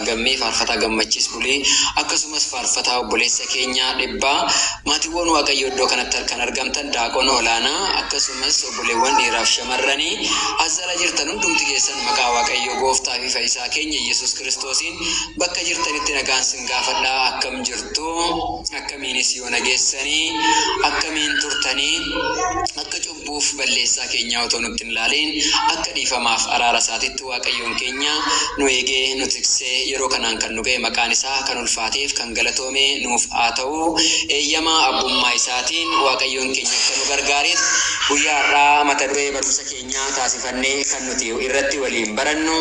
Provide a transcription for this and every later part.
Gammee faarfataa Gammachiis Bulii akkasumas faarfataa obboleessa keenya Dhibbaa maatiwwan Waaqayyoo iddoo kanatti arkan argamtan Daaqon Olaanaa akkasumas obboleewwan dhiiraaf shamarrani as jala jirtan hundumti keessan maqaa Waaqayyoo gooftaa fi fayisaa keenya Yesuus Kiristoosiin bakka jirtanitti nagaan sin gaafadha akkam jirtu akkamiinis yoona geessanii akkamiin turtanii akka cubbuuf balleessaa keenyaa otoo nutti hin laaliin akka dhiifamaaf araara isaatitti Waaqayyoon keenya nu eegee nu tiksee yeroo kanaan kan nu ga'e maqaan isaa kan ulfaateef kan galatoome nuuf haa ta'u eeyyama abbummaa isaatiin Waaqayyoon keenya akka nu gargaareef guyyaa har'aa mata duree barumsa keenyaa taasifannee kan nuti irratti waliin barannu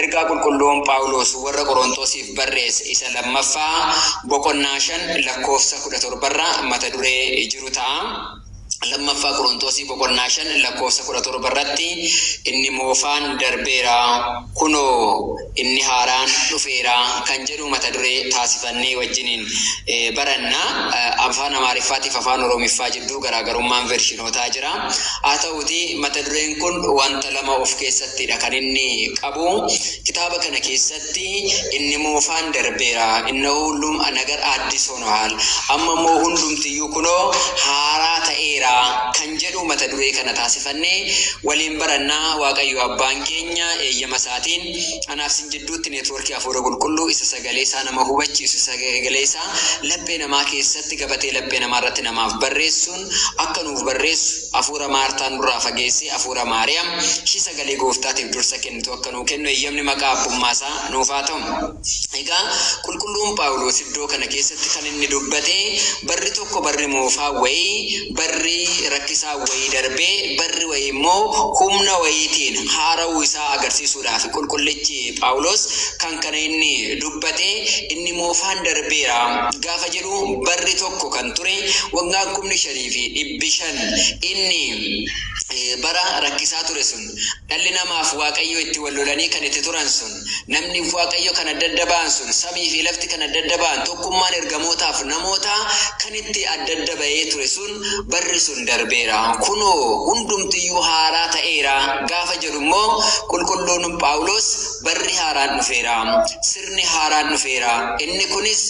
ergaa qulqulluun Phaawuloos warra Qorontoosiif barreesse isa lammaffaa boqonnaa 5 lakkoofsa 17 irraa mata duree jiru ta'a. 2ffaa Qoronxoosii boqonnaa 5 lakkoofsa 17 irratti inni moofaan darbeera, kunoo inni haaraan dhufeera kan jedhu mata duree taasifannee wajjiniin baranna. Afaan Amaariffaatiif Afaan Oroomiffaa jidduu garaagarummaan veershinootaa jira. Haa ta'uutii mata dureen kun wanta lama of keessattidha kan inni qabu. Kitaaba kana keessatti. keessatti inni moofaan darbeera, innoo hullum a nagar addis honohal, amma immoo hundumti iyyuu kunoo haaraa ta'eera kan jedhu mata duree kana taasifannee waliin baranna Waaqayyo Abbaan keenya eeyyama isaatiin anaaf sin jidduutti network Hafuura Qulqulluu isa sagalee isaa nama hubachiisu isa sagalee isaa laphee namaa keessatti gabatee laphee namaa irratti namaaf barreessuun akka nuuf barreessu Hafuura Maartaa nurraa fageessee Hafuura Maariyaam ishii sagalee Gooftaatiif dursa kennitu akka nuu kennu eyyamni maqaa abbummaa isaa nuuf haa ta'u. Egaa qulqulluun Phaawuloos iddoo kana keessatti kan inni dubbate barri tokko barri moofaa wayii, barri rakkisaa wayii darbee barri wayii immoo humna wayiitiin haara'uu isaa agarsiisuudhaafi. Qulqullichi Phaawuloos kan kana inni dubbate inni moofaan darbeera gaafa jedhu barri tokko kan ture waggaan kumni shanii fi dhibbi shan inni bara rakkisaa ture sun, Dhalli namaaf Waaqayyoo itti wal lolanii kan itti turan sun, namniif Waaqayyo kan adda adda ba'an sun, samii fi lafti kan adda adda ba'an, tokkummaan ergamootaaf namootaa kan itti adda adda ba'ee ture sun, barri sun darbeera, kunoo hundumti iyyuu haaraa ta'eera gaafa jedhu immoo qulqulluun Phaawuloos barri haaraan dhufeera, sirni haaraan dhufeera, inni kunis,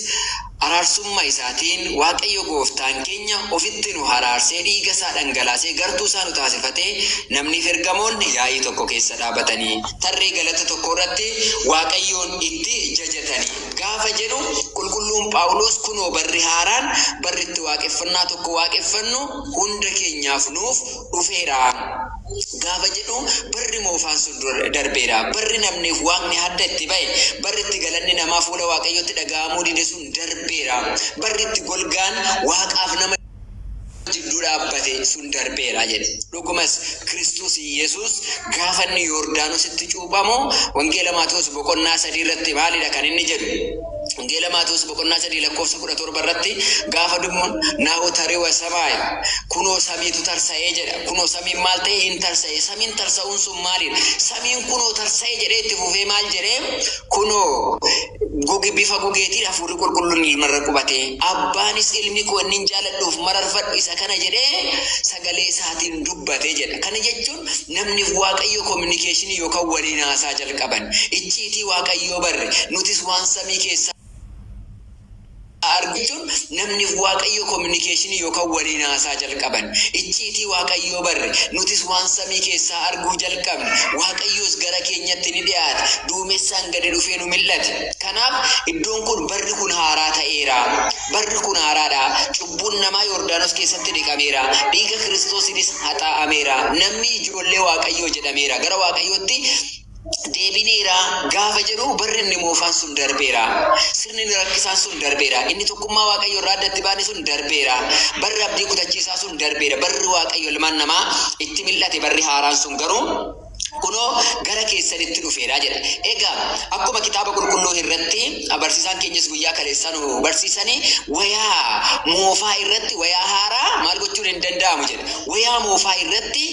Araarsumma isaatiin Waaqayyo gooftaan keenya ofitti nu haraarsee dhiiga isaa dhangalaasee gartuu isaa nu taasifatee namniif ergamoonni yaa'ii tokko keessa dhaabatanii tarree galata tokko irratti Waaqayyoon itti jajatanii gaafa jedhu qulqulluun Phaawuloos kunoo barri haaraan barri itti waaqeffannaa tokko waaqeffannu hunda keenyaaf nuuf dhufeera gaafa jedhu barri moofaan sun dura darbeera. Barri namniif waaqni hadda itti ba'e, barri itti galanni namaa fuula Waaqayyootti dhaga'amuu dide sun darbeera. Barri itti golgaan waaqaaf nama jidduu dhaabbate sun darbeera jedhe. Dhugumas, Kiristoos Yesuus gaafa inni Yoordaanositti cuuphamu, Wangeela Maatewos boqonnaa 3 irratti maalidha kan inni jedhu? Wangeela Maatewos boqonnaa 3 lakkoofsa 17 irratti gaafa dubnu naahu tariwa samaayi kunoo samiitu tarsa'ee jedha. Kunoo samiin maal ta'e hin tarsa'e. Samiin tarsa'uun sun maaliidha? Samiin kunoo tarsa'e jedhee itti fufee maal jedhee kunoo guge bifa gugeetiin hafuurri qulqulluun ilmarra qubate. Abbaanis ilmi koo innin jaaladhuuf mararfadhu isa kana jedhee sagalee isaatiin dubbate jedha. Kana jechuun Namni Waaqayyo kominikeeshinii yookaan waliin haasaa jalqaban, icciitii Waaqayyoo barre, nutis waan samii keessaa arginu jechuun Namni Waaqayyo kominikeeshinii yookaan waliin haasaa jalqaban, icciitii Waaqayyoo barre, nutis waan samii keessaa arguu jalqabne, Waaqayyoos gara keenyatti ni dhi'aate, duumessaan gadi dhufee nu mil'ate. Kanaaf, iddoon kun barri kun haaraa ta'eera, barri kun haaraadha, Cubbuun namaa Yordaanos keessatti dhiqameera, dhiiga Kiristoosiinis haxaa'ameera, namni ijoollee Waaqayyoo jedhameera, gara Waaqayyootti deebineera gaafa jedhu barri inni moofaan sun darbeera. Sirni inni rakkisaan sun darbeera. Inni tokkummaa Waaqayyoo irraa addatti baane sun darbeera. Barri abdii kutachiisaa sun darbeera. Barri Waaqayyo ilmaan namaa itti mil'ate barri haaraan sun garuu kunoo gara keessanitti dhufeera jedha. Egaa akkuma kitaaba qulqulluu irratti barsiisaan keenyas guyyaa kaleessaa nu barsiisanii wayaa moofaa irratti wayaa haaraa maal gochuun hin danda'amu jedha. Wayaa moofaa irratti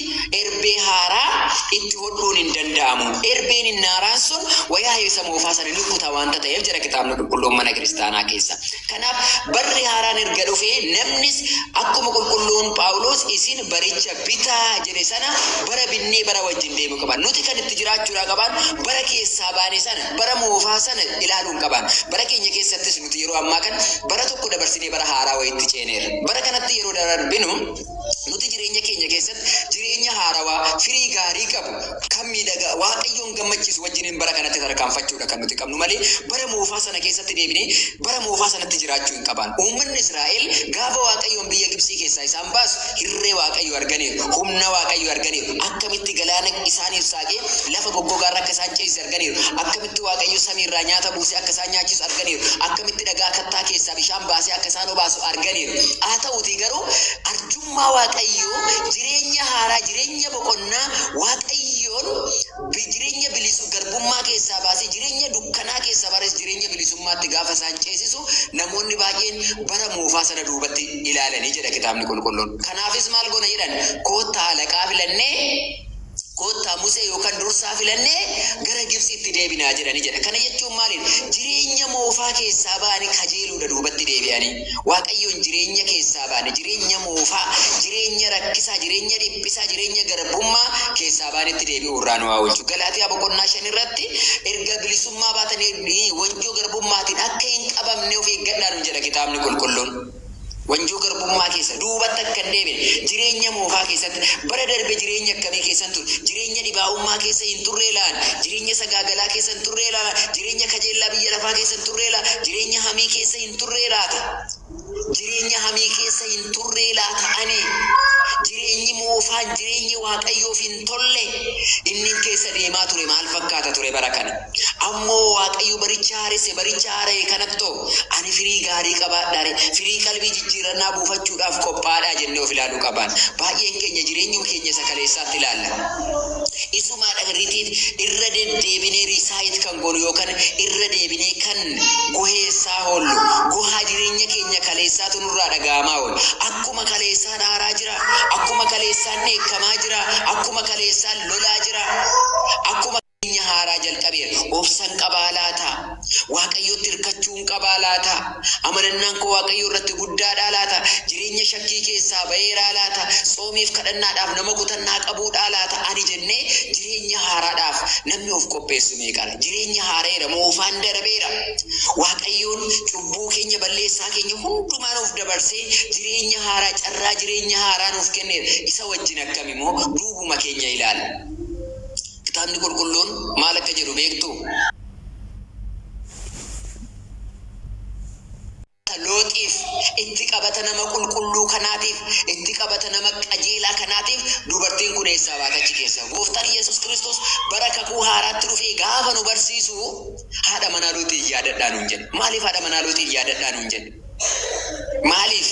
erbee haaraa itti hodhuun hin danda'amu. Erbeen inni haaraan sun wayaa isa moofaa sana ni kuta waanta ta'eef jedha kitaabni qulqulluun mana kiristaanaa keessa. Kanaaf barri haaraan erga dhufee namnis akkuma qulqulluun Phaawulos isin baricha bitaa jedhe sana bara binnee bara wajjin deemu qaba. Nuti kan itti jiraachuudhaa qabaan bara keessaa baane sana, bara moofaa sana ilaaluu hin qabaan. Bara keenya keessattis nuti yeroo ammaa kan bara tokko dabarsinee bara haaraa wayiitti ceeneerra. Bara kanatti yeroo dararbinu nuti jireenya keenya keessatti jireenya haarawaa, firii gaarii qabu, kan miidhagaa, Waaqayyoon gammachiisu wajjiniin bara kanatti tarkaanfachuudha kan nuti qabnu malee bara moofaa sana keessatti deebinee bara moofaa sanatti jiraachuu hin qabaan. Uummanni Israa'el gaafa Waaqayyoon biyya Gibtsii keessaa isaan Ammas hirree Waaqayyoo arganiiru. Humna Waaqayyoo arganiiru. Akkamitti galaana isaaniif saaqee lafa goggogaa irra akka isaan ceesise arganiiru. Akkamitti Waaqayyo samii irraa nyaata buusee akka isaan nyaachisu arganiiru. Akkamitti dhagaa kattaa keessaa bishaan baasee akka isaan obaasu arganiiru. Haa ta'uutii garuu arjummaa Waaqayyoo, jireenya haaraa, jireenya boqonnaa Waaqayyoon, B. Jireenya bilisu garbummaa keessaa baasee jireenya dukkanaa keessa bares jireenya bilisummaatti gaafa isaan ceesisu namoonni baay'een bara moofaa sana duubatti ilaalani jedha kitaabni qulqulluun. Kanaafis maal goona jedhan koottaa alaqaa filannee koottaa Musee yookan dursaa filannee gara Gibtsiitti deebinaa jedhani jedha. Kana jechuun maaliin jireenya moofaa keessaa ba'ani kajeeluudha duubatti deebi'ani. Waaqayyoon jireenya keessaa baane, jireenya moofaa, jireenya rakkisaa, jireenya dhiphisaa, jireenya garbummaa keessaa baanetti deebi'uu irraa nu haa oolchu. Galaatiyaa boqonnaa 5 irratti erga bilisummaa baatanii wanjoo garbummaatiin akka hin qabamne of eeggadhaa nuun jedha kitaabni qulqulluun. Wanjoo garbummaa keessa duubatti akka hin deebine, jireenya moofaa keessatti bara darbe jireenya akkamii keessan ture? Jireenya dhibaa'ummaa keessa hin turree laan? Jireenya sagaagalaa keessa hin turree laan? Jireenya kajeellaa biyya lafaa keessa hin turree laan? Jireenya hamii keessa hin hin turree laata? Jireenya hamii keessa hin turree laata ani? Jireenyi moofaan jireenyi Waaqayyoof hin tolle inni keessa deemaa ture maal fakkaata ture bara kana? Ammoo Waaqayyo baricha haaresse baricha haara'e kanatto ani firii gaarii qabaadhaare firii qalbii jijjiirannaa buufachuudhaaf qophaadhaa jennee of ilaaluu qabaan. Baay'een keenya jireenyuma keenya isa kaleessaatti ilaalla. Isumaadha irritiit irra deddeebinee riisaayit kan goonu yookan irra deebinee kan goheessaa hoollu, gohaa jireenya keenya kaleessaatu nurraa dhaga'amaa oola. Akkuma kaleessaan aaraa jira, akkuma kaleessaan dheekkamaa jira, akkuma kaleessaan lolaa jira, akkuma. Jireenya haaraa jalqabeera. Obsan qabaa laata? Waaqayyotti irkachuu. nan qabaa laata? Amanannaan koo Waaqayyo irratti guddaadhaa laata? Jireenya shakkii keessaa ba'eeraa laata? Tsoomiif kadhannaadhaaf nama kutannaa qabuudhaa laata ani jennee jireenya haaraadhaaf namni of qopheessu meeqadha? Jireenyi haara'eera, moofaan darabeera. Waaqayyoon cubbuu keenya, balleessaa keenya hundumaa nuuf dabarsee jireenya haaraa, carraa jireenya haaraa nuuf kenneera. Isa wajjin akkamimoo duubuma keenya ilaalla. Kitaabni Qulqulluun maal akka jedhu beektuu? Akka Looxiif, itti qabata nama qulqulluu kanaatiif, itti qabata nama qajeelaa kanaatiif dubartiin kun eessaa baate achi keessaa? Gooftaan Yesus Kristos bara Kakuu Haaraatti dhufee gaafa nu barsiisu, Haadha manaa Looxiin yaadadhaa nuun jedha. Maaliif haadha manaa Looxiin yaadadhaa nuun jedhe? Maaliif?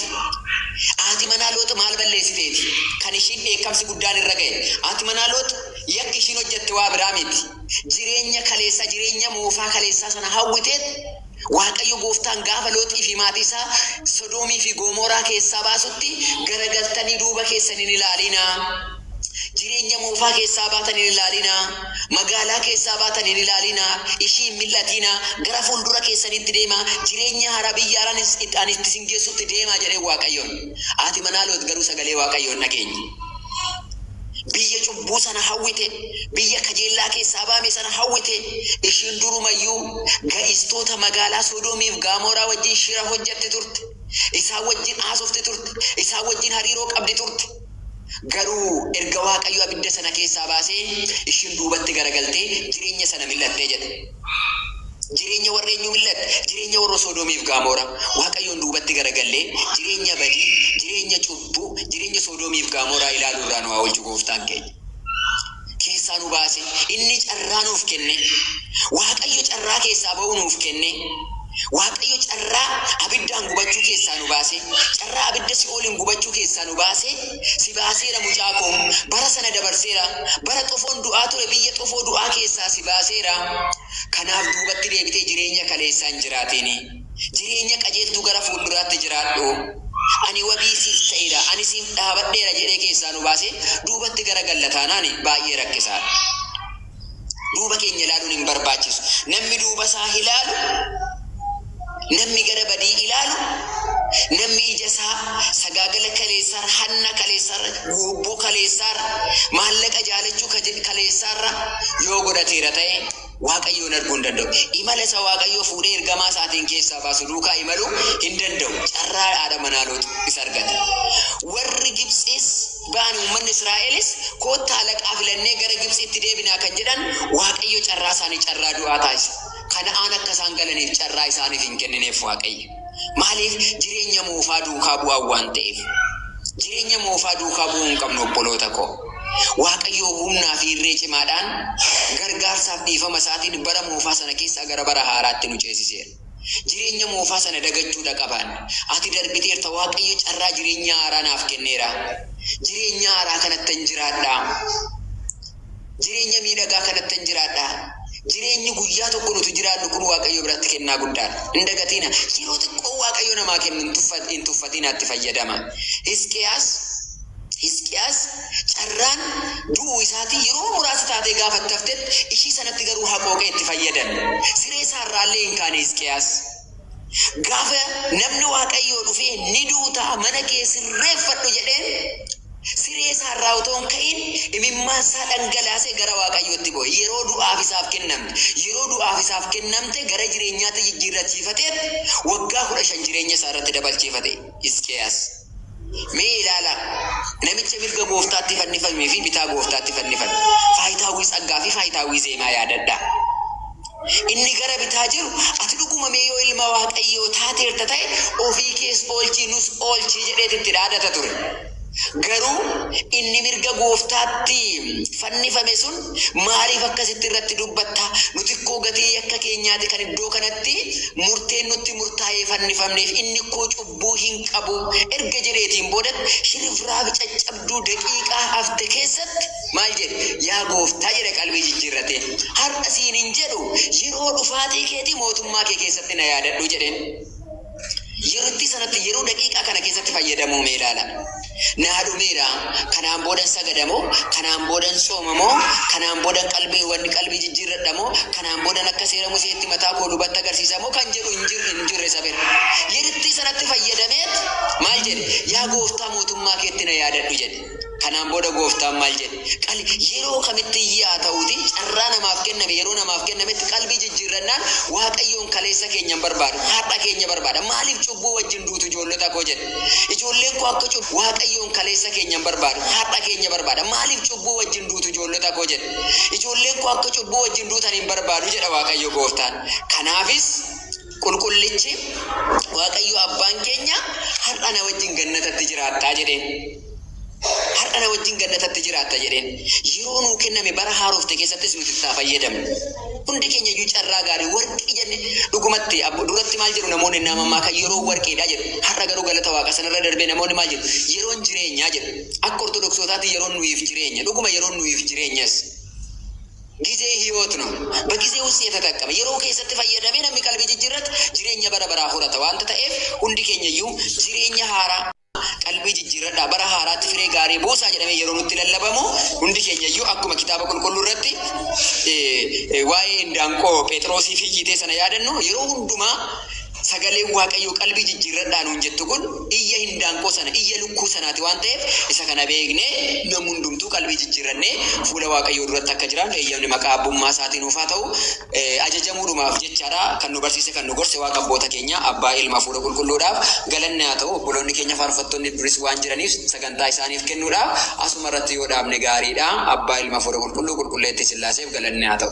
Haati manaa Loox maal balleessiteeti kan ishiin dheekkamsi guddaan irra ga'e? Haati manaa Loox yakki ishiin hojjette waa biraa miti. Jireenya kaleessaa, jireenya moofaa kaleessaa sana hawwiteet Waaqayyo gooftaan gaafa Looxii fi maatii isaa Sodoomii fi Goomooraa keessaa baasutti, Garagaltanii duuba keessan hin ilaaliinaa! Jireenya moofaa keessaa baatan hin ilaalinaa, magaalaa keessaa baatan hin ilaalinaa, ishii hin mil'atiinaa, gara fuuldura keessaniitti deemaa, jireenya haaraa biyya haaraan itti ani itti isin geessutti deemaa jedheen Waaqayyoon. Haati manaa Loox garuu sagalee Waaqayyoo hin dhageenye. Biyya cubbuu sana hawwite, biyya kajeellaa keessaa ba'ame sana hawwite, ishiin durumayyuu ga'istoota magaalaa Sodoomii fi Gaamooraa wajjin shira hojjetti turte, isaan wajjin haasofti turte, isaan wajjin hariiroo qabdi turte. Garuu erga Waaqayyo abidda sana keessaa baasee, ishiin duubatti garagaltee jireenya sana mil'atte jedha. Jireenya warra eenyuu mil'atte? Jireenya warra Soodomii fi Gaamoora. Waaqayyoon duubatti garagallee jireenya badii, jireenya cubbuu, jireenya Soodomii fi Gaamooraa ilaaluu irraa nu haa oolchu Gooftaan keenya. keessaa nu baase. Inni carraa nuuf kenne. Waaqayyo carraa keessaa ba'uu nuuf kenne. Waaqayyo carraa abiddaan gubachuu keessaa nu baase. Carraa abidda si'ooliin gubachuu keessaa nu baase. Si baaseera mucaa koo. Bara sana dabarseera. Bara xofoon du'aa ture biyya xofoo du'aa keessaa si baaseera. Kanaaf duubatti deebitee jireenya kaleessaa hin jiraatiini. Jireenya qajeeltuu gara fuulduraatti jiraadhu. Ani wabii siif ta'eera, ani siif dhaabadheera jedhee keessaa nu baasee duubatti gara galla taanaan baay'ee rakkisaadha. Duuba keenya ilaaluun hin barbaachisu. Nammi duuba isaa ilaalu, nammi gara badii ilaalu, nammi ija isaa sagaagala kaleessaarra, hanna kaleessaarra, guubboo kaleessaarra, maallaqa jaalachuu kaleessaarra yoo godhateera ta'e, Waaqayyoon arguu hin danda'u. Imala isa Waaqayyo fuudhee ergamaa isaatiin keessaa baasu duukaa imaluu hin danda'u. Carraa haadha manaa Loox isa argate. Warri Gibtsiis ba'an uummanni Israa'elis koottaa halaqaa filannee gara Gibtsiitti deebinaa kan jedhan Waaqayyo carraa isaanii carraa du'aa taasise. Kana'aan akka isaan galaniif carraa isaaniif hin kennineef Waaqayyo. Maaliif? Jireenya moofaa duukaa bu'an waan ta'eef. Jireenya moofaa duukaa bu'uu hin qabnu obboloota koo. Waaqayyoo humnaa fi irree cimaadhaan, gargaarsaaf dhiifama isaatiin bara moofaa sana keessaa gara bara haaraatti nu ceesiseera. Jireenya moofaa sana dagachuu dha qabaanne. Ati darbiteerta, Waaqayyo carraa jireenya haaraa naaf kenneera. Jireenya haaraa kanattan jiraadha. Jireenya miidhagaa kanattan jiraadha. Jireenyi guyyaa tokko nuti jiraannu kun Waaqayyo biratti kennaa guddaadha. Hin dagatiina. Yeroo xiqqoo Waaqayyo namaa kennu hin tuffa, hin tuffatiinaa itti fayyadama. Hisqiyaas, Hisqiyaas carraan du'uu isaatii yeroo muraasa taatee gaafa itti haftetti, ishii sanatti garuu haqooqee itti fayyadame. Siree isaa irraa illee hin kaane Hisqiyaas. Gaafa namni Waaqayyoo dhufee ni duutaa mana kee sirreeffadhu jedheen siree isaa irraa otoo hin ka'in imimmaan isaa dhangalaasee gara Waaqayyootti boo'e. Yeroo du'aaf isaaf kennamte. Yeroo du'aaf isaaf kennamte gara jireenyaatti jijjiirrachiifateetti waggaa 15 jireenya isaa irratti dabalchiifate Hisqiyaas. Mee ilaalaa, namicha mirga Gooftaatti fannifamee fi bitaa Gooftaatti fannifame, Faayitaawwii Tsaggaa fi Faayitaawwii Zeenaa yaadadhaa. Inni gara bitaa jiru, Ati dhuguma mee yoo Ilma Waaqayyoo taateerta ta'e, ofii kees oolchii nus oolchi jedheeti itti dhaadata ture. Garuu inni mirga Gooftaatti fannifame sun, Maaliif akkasitti irratti dubbatta? Nuti ikkoo gatii yakka keenyaati kan iddoo kanatti murteen nutti murtaa'ee fannifamneef, inni ikkoo lubbuu hin qabu erga jedheetiin booda shirifraafi caccabduu daqiiqaa hafte keessatti maal jedhe? Yaa Gooftaa jedhe qalbii jijjiirratee. Har'a siin hin jedhu, yeroo dhufaatii keetii mootummaa kee keessatti na yaadadhu jedheen. Yeruttii sanatti yeroo daqiiqaa kana keessatti fayyadamuu mee ilaala. Naa dhumeera kanaan boodan sagada moo kanaan boodan tsooma moo kanaan boodan qalbii wanni qalbii jijjiirradha moo kanaan boodan akka seera museetti mataa koo lubatti agarsiisa moo kan jedhu hin jir hin jirre saben yerittii sanatti fayyadameet maal jedhe yaa gooftaa mootummaa keetti na yaadadhu jedhe kanaan booda gooftaan maal jedhe qali yeroo kamitti iyyee haa ta'uuti carraa namaaf kenname yeroo namaaf kennametti qalbii jijjiirrannaan waaqayyoon kaleessa keenya hin barbaadu har'a keenya barbaada maaliif cubbuu wajjin duutu ijoollota koo jedhe Ijoolleen koo akka cubbu Waaqayyoon kaleessa keenya hin barbaadu, har'a keenya barbaada. Maaliif cubbuu wajjin duutu ijoollota koo jedhe. Ijoolleen koo akka cubbuu wajjin duutan hin barbaadu jedha Waaqayyo gooftaan. Kanaafis qulqullichi Waaqayyo abbaan keenya har'a na wajjin gannatatti jiraattaa jedheen. Har'a na wajjin gannatatti jiraatta jedheen. Yeroo nuu kenname bara haarofte keessattis nuti itti haa fayyadamnu. Hundi keenya iyyuu carraa gaarii warqii jenne dhugumatti abbo duratti maal jedhu namoonni innaa mammaakan yeroon warqiidha jedhu. Har'a garuu galata waaqa sanarra darbee namoonni maal jedhu yeroon jireenyaa jedhu. Akka ortodoksootaatti yeroon nuyiif jireenya dhuguma yeroon nuyiif jireenyas. Gizee hiyoot no. Bagizee ussii yatataqqama. Yeroo keessatti fayyadamee namni qalbii jijjiirrate jireenya bara baraa horata waanta ta'eef hundi keenya iyyuu jireenya haaraa Qalbii jijjiirradhaa, bara haaraatti firee gaarii buusaa jedhamee yeroo nutti lallabamu, hundi keenya iyyuu akkuma Kitaaba Qulqulluu irratti waa'ee indaanqoo Pheexiroosiif iyyitee sana yaadannu, yeroo hundumaa sagaleen Waaqayyoo qalbii jijjiirradhaa nuun jettu kun iyya indaanqoo sana, iyya lukkuu sanaati waan ta'eef, isa kana beeknee namni hundumtuu qalbii jijjiirrannee fuula Waaqayyoo duratti akka jiraannu eeyyamni maqaa Abbummaa isaatii nuuf haa ta'u. ajajamuudhumaaf jecha dha. Kan nu barsiise, kan nu gorse Waaqa abboota keenyaa, Abbaa, Ilma, Hafuura Qulqulluudhaaf galanni haa ta'u. Obboloonni keenya faarfattoonni duris waan jiraniif sagantaa isaaniif kennuudha. Asuma irratti yoo dhaabne gaarii dha. Abbaa, Ilma, Hafuura Qulqulluu, Qulqulleettii Sillaaseef galanni haa ta'u.